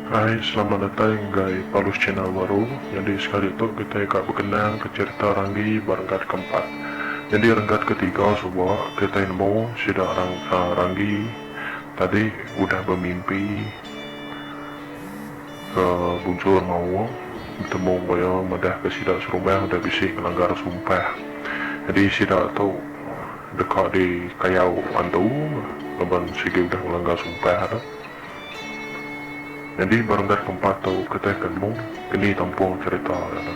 Hai selamat datai enggai palus channel baru nyadi sekali tu kitai ka bekenang ke cherita ranggi ba renggat ke empat nyadi renggat ke tiga suba kitai nemu sida ranggi Tadi udah bemimpi ke Bunchor Maung betemu enggau iya madah ke sida serumah udah bisi ngelanggar sumpah. Nyadi sida tu deka di kayau antu laban sigi udah ngelanggar sumpah tu. Nyadi ba renggat keempat tu keteh ke nemu keni tampung cherita dia tu.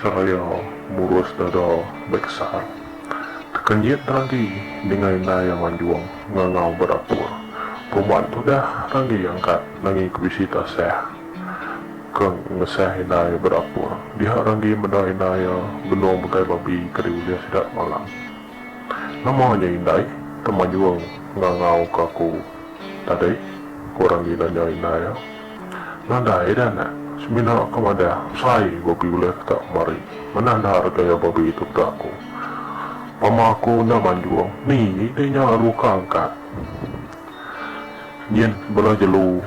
Seraya murus dada ba kesal. Tekenjit ragi dingai indai iya manjung ngangau ba dapur. Puma tudah ragi angkat nanggi ke bisi tasah ke ngesah indai iya ba dapur. Diha ragi meda indai iya benung megai babi ke diulih sida semalam. Nama nya indai temanjung ngangau ke aku tadi? ku ragi nanya indai iya. Nadai dah nek. Semina ke madah besai babi ulih ke tak kemari. Manah dah harga iya babi tu peda aku. Pama aku enda manjung, ni deh nya aru ka angkat. Nyin bela jelu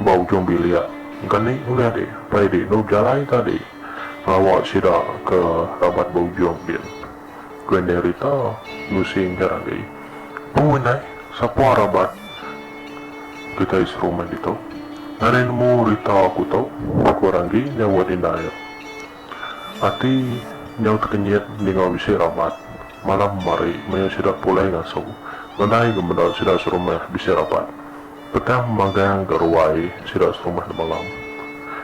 ba ujung bilik engka ni ulih deh pai deh enda bejalai tadi ngawa sida ke raban ba ujung din. ku Endai Rita ngusingka agi. Pu Endai, sapa raban kitai serumah ditu? Nadai nemu Rita aku tu, ku Ranggi nyauat indai iya. Ati nyau tekenyit ninga bisi raban. Malam mari maya sida pulai ngasu, nadai ke meda sida serumah bisi raban. Petang magang ga ruai sida serumah di malam.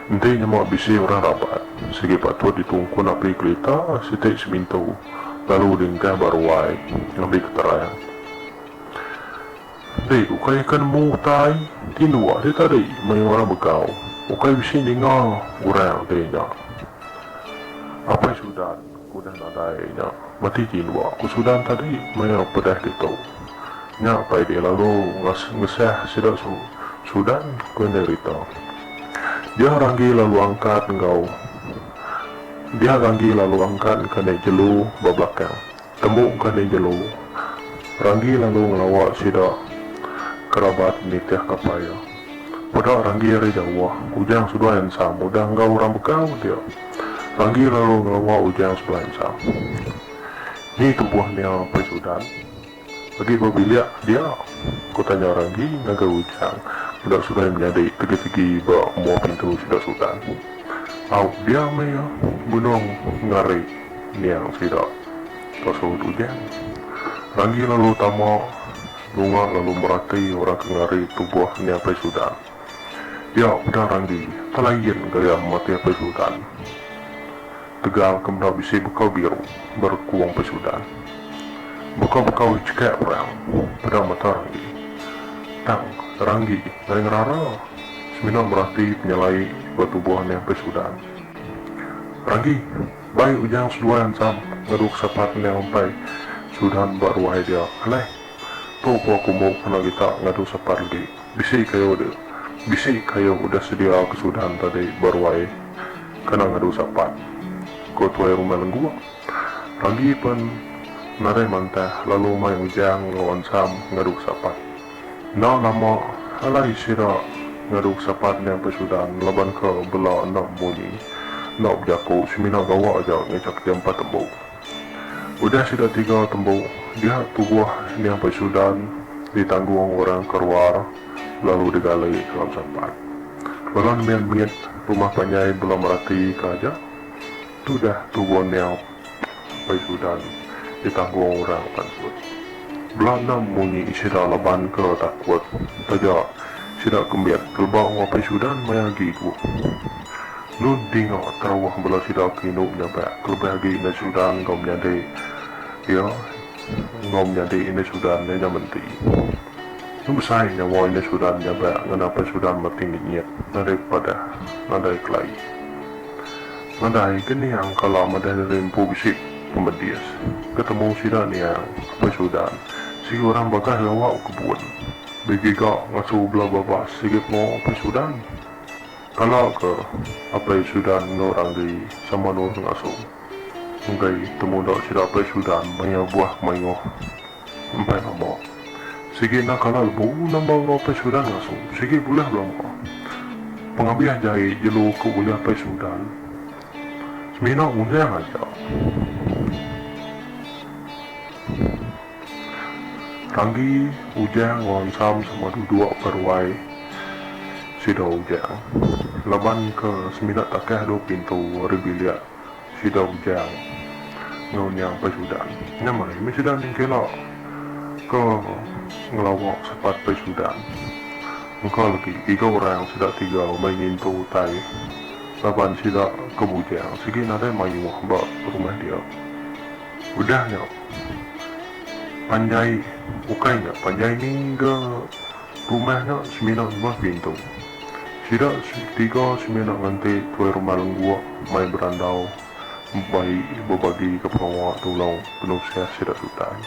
Enti nyema bisi orang rapat, sigi patut ditungkun api kelita siti semintu lalu diengkah ba ruai ngambi keterang. Enti ukai aka nemu utai ti nuak ti tadi maya orang begau, ukai bisi ninga orang ti nya. Apai Sudan. Udah nadai nya, meti ke indua ku Sudan tadi maya pedah ditu. Nya apai dia lalu ngesah sida Sudan ku indai Rita. Dia ranggi lalu angkat enggau dia ranggi lalu angkat ka indai jelu ba belakang. Tembu ka indai jelu, ranggi lalu ngelawa sida kerabat nitih ka apai iya. Peda Ranggi ari jauh, Ujang sebelah ensam udah enggau orang begau dia. Ranggi lalu ngelewa Ujang sebelah ensam. Ni tubuh nya apai Sudan? Agi ba bilik dia? Ku tanya Ranggi ngagai Ujang enda sulai menyadi tegi-tegi ba mua pintu sida Sudan. Au, dia meh iya, benung ngari niang sida, ka sahut Ujang. Ranggi lalu tama. Lunga lalu merati orang ke ngari tubuh Ni Apai Sudan. Nya peda Randi, telain gaya mati Apai Sudan. Tegal ke meda bisi bekau biru berekung Apai Sudan. Bekau-bekau ichkek perang peda mata Randi. Tang, Randi ngai ngerara semina merati penyelai ba tubuh Ni Apai Sudan. Randi. Bai Ujang seduai antam ngadu ke sapa ke endang empai Sudan ba ruai dia alai. Tu ko aku embu kena kita ngadu sapa legi. Bisi kayu de bisi kayu udah sedia ke Sudan tadi ba ruai kena ngadu sapa, ko tuai rumah Lengguk. Randi pen narih mantah lalu mai Ujang enggau antam ngadu ke sapa. Enda nama alai sida ngadu sapan nya besudan laban ke bela enda munyi, enda bejaku semina gawa aja ngejak iya empat embu. Udah sida tiga tembu, diak tubuh nya besudan ditanggung orang ke ruar lalu digali ke dalam sapan. Bala nembiak mit rumah panjai bela meratika aja Tudah tu Borneo, Bai Sudan, ditanggung orang pansut. Bela enam munyi sida laban ke takut taja sida ke mit pelebau enggau Bai Sudan maya agi ku. Nun dinga terauh bala sida ke indu nyabak kelebih agi indai Sudan enggau menyadi iya enggau menyadi indai Sudan nya nya menti. Nun besai nyawa indai Sudan nyabak ngena Bai Sudan mating dinyit nadai padah nadai kelai. Nadai ke niang kala madah diri empu bisi pemedis ketemu sida niang apai Sudan sigi orang bagas gawa kebun begiga ngasu bela babas sigi pengawa apai Sudan kala ke apai Sudan enggau orang diri sama nur ngasu enggai temuda sida apai Sudan maya buah mayuh Empai mama. Sigi enda kala lebu nambah orang Apai Seudan ngasu. Sigi bulih belama. Pengabih jai jelu ke ulih Apai Seudan semina undang aja. Ranggi, Ujang enggau Ansam sama duduk ba ruai sida Ujang laban ke semina takah dua pintu ari bilik. Sida ujau enggau nya Paisudan. Nyamai meh sida ningkela ke ngelawa sepat Paisudan. Engka legi tiga orang sida tiga meh ngintu utai laban sida ke bujang sigi nadai mayuh ba rumah dia. Udah nya panjai ukai nya panjai ni ga Rumah nya semina rumah Bintu. Sida tiga semina nganti tuai rumah Lengguk mai berandau bai bebagika pengawa tulung penusah sida tutai.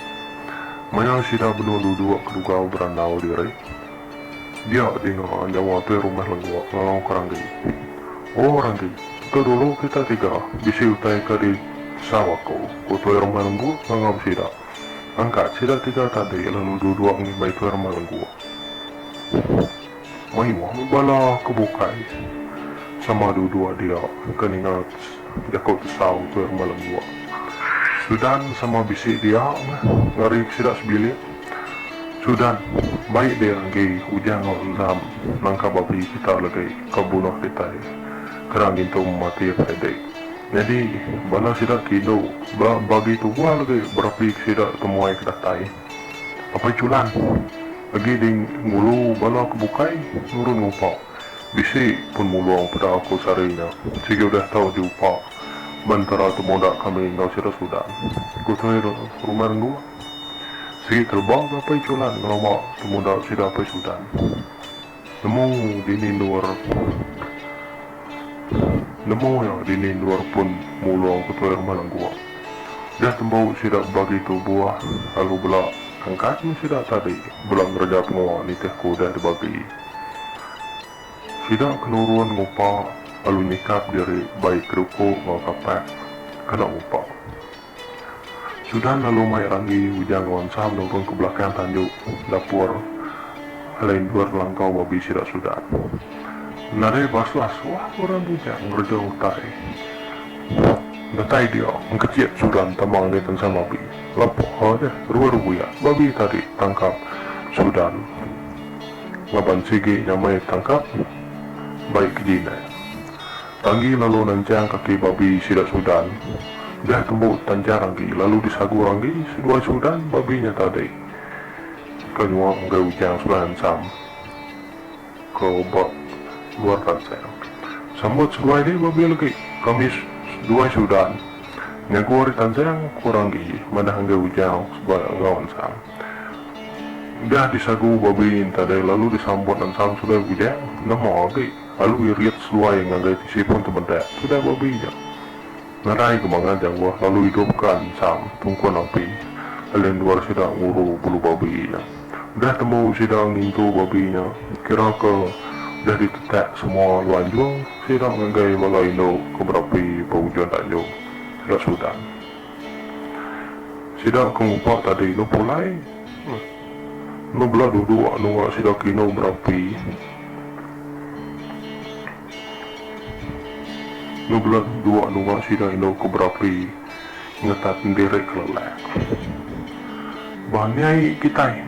Maya sida benung duduk kerugau berandau diri, dia dinga nyawa tuai rumah Lengguk ngalauka Ranggi, O Ranggi, tu dulu kita tiga bisi utai ke di sau aku, ku tuai rumah Lengguk ngangau sida. Angkat sida tiga tadi lalu duduk ngimbai tuai rumah lengku. Mayuh meh bala ke bukai sama duduk dia ke ninga jaku tesau tuai rumah lengku. Sudan sama bisi dia meh ngeri sida sebilik. Sudan, baik dia enggi ujan enda rendam nangka babi kita legi ke bunuh kitai kena ngintu mati Friday. Nyadi, bala sida ti indu ba bagi tu buah legi berapi ke sida temuai ke datai. Apai Chulan agi ding ngulu bala ke bukai nurun ngupa. Bisi pun mulung peda aku sehari nya, sigi udah tau diupa ba entara temuda kami enggau sida Sudan, ku Toi Rumah Renggu. Sigi keleba ga Apai Chulan ngelama temuda sida Apai Sudan. Nemu dini endur Nemu iya dini endur pun mulung ke tuai rumah lenggok. Udah tembu sida bebagi tubuh lalu bela angkat meh sida tadi bela ngereja pengawa nitih ke udah dibagi. Sida ke nurun ngupa lalu nyikap diri bai keduku enggau kapak kena ngupa. Sudan lalu mai ranggi ujar enggau Ansam nurun ke belakang tandu dapur alai endur langkau babi sida Sudan. Nadai basah suah ke orang bujang ngereja utai. Datai dia engkecit Sudan tama langit Ansam babi. Lapah ha deh rua rebuyak babi tadi tangkap Sudan ngaban sigi nyamai tangkap baik ke jinai. Tanggi lalu nanjang kaki babi sida Sudan, deh tembu tanjang agi lalu disagur anggi seduai Sudan babi nya tadi. Ka nyuah enggai ujang sudah ensam, ka obak luar tansang. Sambut seduai dih babi legi, kami seduai Sudan nyagu ari tansang kurang agi manah enggai ujang seduai enggau ensam. Deh disagur babi nya tadi lalu disambut ensam seduai bujang, nemu agi. Lalu iya riak seduai ngagai tisi pun temedak tudah babi nya. Ngerai ke mangan jangguh lalu idup ka ensam tungkun api lalu endur sida nguru bulu babi nya. Udah tembu sida ngintu babi nya kira ke udah ditetak semua lalu anjung sida ngagai bala indu ke berapi ba ujun tanjung sida sudan. Sida ke ngupak tadi inu pulai. Enda bela duduk anu ngak sida kinu berapi. Enda bela duduk anu ngak sida indu ke berapi ngetat ndiri kelelak. Bah ni ai kitai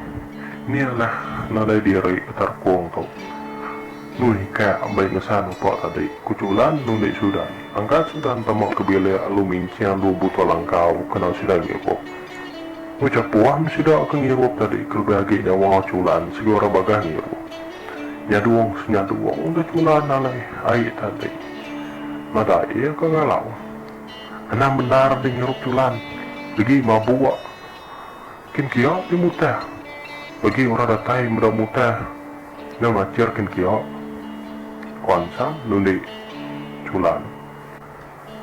ni alah nadai diri ke terkong tu. Nuih ka ambai ngesan upa tadi, ku Chulan nundi Sudan. Angkat Sudan tama ke bilik lalu minching dua buta langkau kena sida ngibup. Ucap Wan sida ke ngirup tadi kelebih agi nya Wang Chulan segera bagai ngirup. Nyadung senyadung udah Chulan alai ai tadi. Nadai iya ke ngalau. Anang bendar deh ngirup Chulan. Degi mabuk. Kin kia ti mutah. Bagi orang datai meda mutah nya ngachir kin kia. Wan Sam nulik Chulan.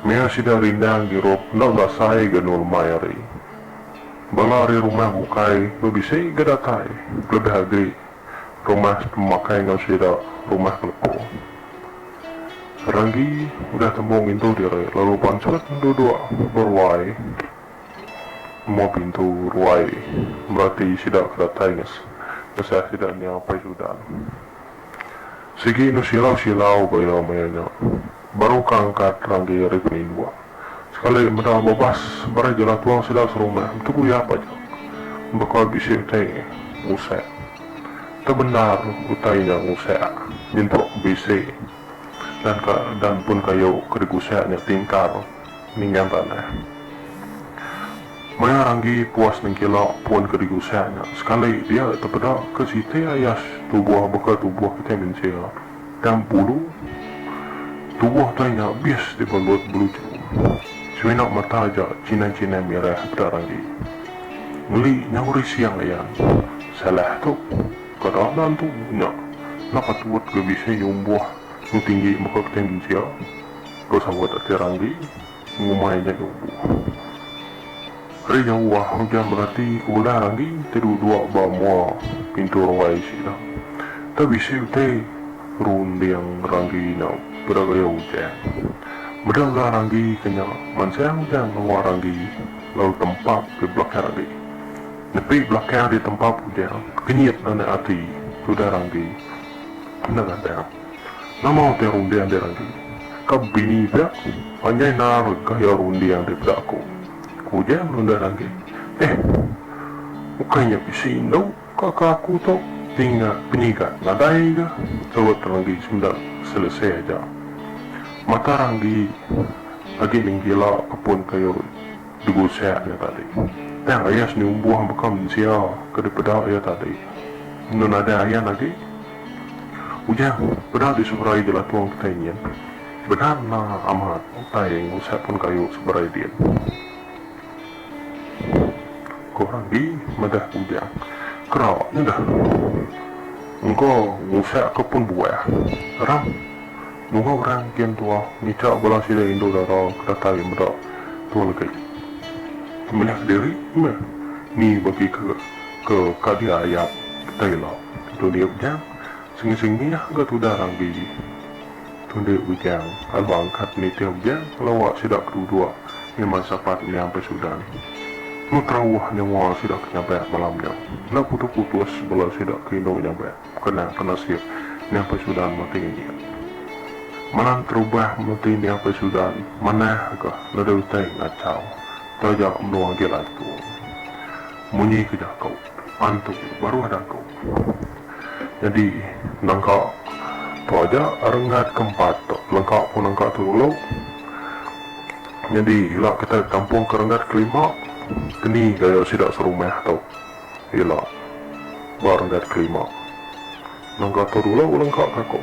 Meh sida rindang hirup enda berasai ga endur mai hari. Bala ari rumah bukai enda bisi ga datai kelebih agi rumah sepemakai enggau sida rumah ke lepo. Ranggi udah tembu ngintu diri lalu pansut duduk beruai amu pintu ruai merati sida ke datai ngesah sida nya apai Sudan. Sigi enda silau-silau ga iya maya nya. baru ka angkat ranggi regu indua. Sekali meda babas barai jala tuang sida serumah betugu iya paja. Baka bisi utai ngusek. Tau bendar utai nya ngusek nyentuk ke bisi dan ka dan pun kayu ke digusek nya tingkar ningang tanah. Maya ranggi puas nengkila pun ke digusek nya sekali dia tepeda ke siti ayas tubuh baka tubuh kitai mensia. Tang pulu, tubuh tai nya bis ti belut beluju. Semina mata aja chinai-chinai mirah peda ranggi. Ngeli nyau risiang ayan. Salah tu, kada ada antu nya enda patut ga bisi nyumbuh nu tinggi mega kitai mensia, ko sahut ati ranggi. Ngumbai nya duku. Ari jauh ah ujan berati ke udah ranggi ti duduk ba mua pintu ruai sida. Enda bisi utai runding ranggi nya peda gaya ujan. Meda udah ranggi ke nya mansang ujan nengah ranggi lalu tempap di belakang ranggi. Nepi belakang ditempap ujan kenyit anak ati ti udah ranggi. Enda ngandang. Nama utai runding dek agi ka bini pia panjai nar gaya runding dek peda aku, ku ujan Lundan agi. Eh ukai nya bisi indu ka ke aku tu ninga penyigat nadai ga tebet renggi senda selesai aja. Mata renggi agi ninggila kepun kayu digusak nya tadi. Tang ayas nyumbuh baka mensia ke dipeda iya tadi enu nadai ayan agi. Ujar peda di seberai Jelah Tuang Petai nyin, Bendar enda amat utai ngusap pun kayu seberai din. Ko Randi madah Bujang, Kera nya dah. Engka ngusap ke pun buah. Rang. Nunga orang kin tua ngicha bala sida indu dara ke datai meda tua legi. Meliah kediri meh ni bagi ke. Ke kadia ayat kita ila tunde Ujang sengi sengi ga tudah ranggi tunde Ujang lalu angkat nitih Ujang lawa sida ke duduk ngiman sapat nyampai sudan tu terauh nyengua sida ke nyampai malam nya enda putus putus bala sida ke indu nyampai kena ke nasib nyampai sudan mati ngenyit malam terubah menti nyampai sudan manah ga leda utai ngachau taja menua agi lantung. Munyi ke jako antu baruh daku. Nyadi nangka tu aja rengat ke empat tu lengka pun nangka tu dulu. Nyadi ila kitai bekampung ke rengat ke lima keni gaya sida serumah tu ila ba rengat ke lima. Nangka tu dulu lengka ka ku.